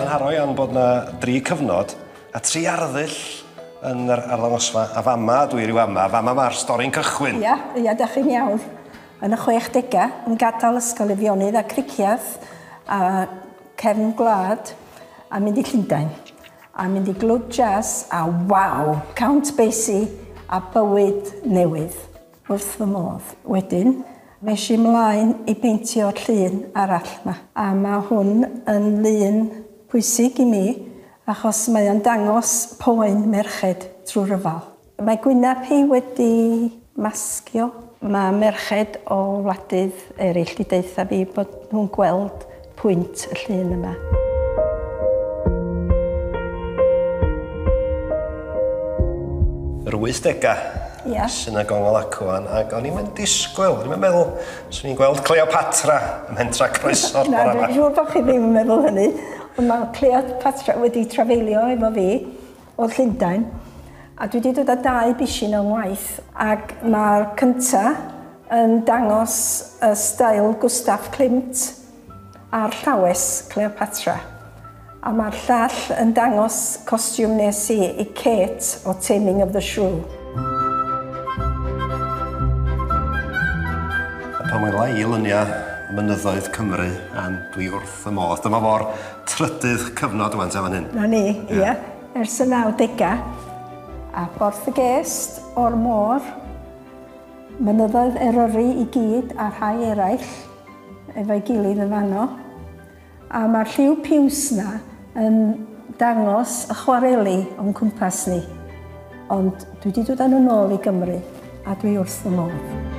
Mae'n haro iawn bod yna dri cyfnod a tri arddull yn yr arddangosfa, a fama, dwi rhyw ama, fama mae'r stori'n cychwyn. Ia, ia, da chi'n iawn. Yn y 60au, yn gadael ysgol Efionydd a Cricieth a cefn gwlad a mynd i Llundain. A mynd i glwb jazz a waw! Count Basie a bywyd newydd. Wrth fy modd. Wedyn, es i mlaen i beintio'r llun arall 'ma. A mae hwn yn lun pwysig i mi achos mae o'n dangos poen merched trwy ryfel. Mae gwyneb hi wedi masgio. Mae merched o wladydd eraill 'di deutha fi bod nhw'n gweld pwynt y llun yma. Yr wythdegau. Ia. Sy'n y gongol ac ŵan, ac o'n i'm yn disgwyl, o'n i'm yn meddwl, swn i'n gweld Cleopatra ym mhentra croeso'r bore yma. Na, dwi'n siŵr bod chi ddim yn meddwl hynny, ond mae Cleopatra wedi trafeilio efo fi. o Llundain a dwi wedi dod â dau bishyn o'n ngwaith ac mae'r cynta yn dangos y stael Gustav Klimt a'r llawes Cleopatra a mae'r llall yn dangos costiwm nes i i Kate o Taming of the Shrew. Pan wela i luniau mynyddoedd Cymru and dwi wrth Wrth fy modd. Dyma fo'r trydydd cyfnod rwan te fan hyn. 'Na ni, ia. Ers y nawdegau. A Porth y Gest, O'r Môr, Mynyddoedd Eryri i gyd a rhai eraill efo'i gilydd yn fanno. A mae'r lliw piws 'na yn dangos y chwareli o'n cwmpas ni, ond dwi wedi dod â nhw nôl i Gymru a dwi wrth fy modd.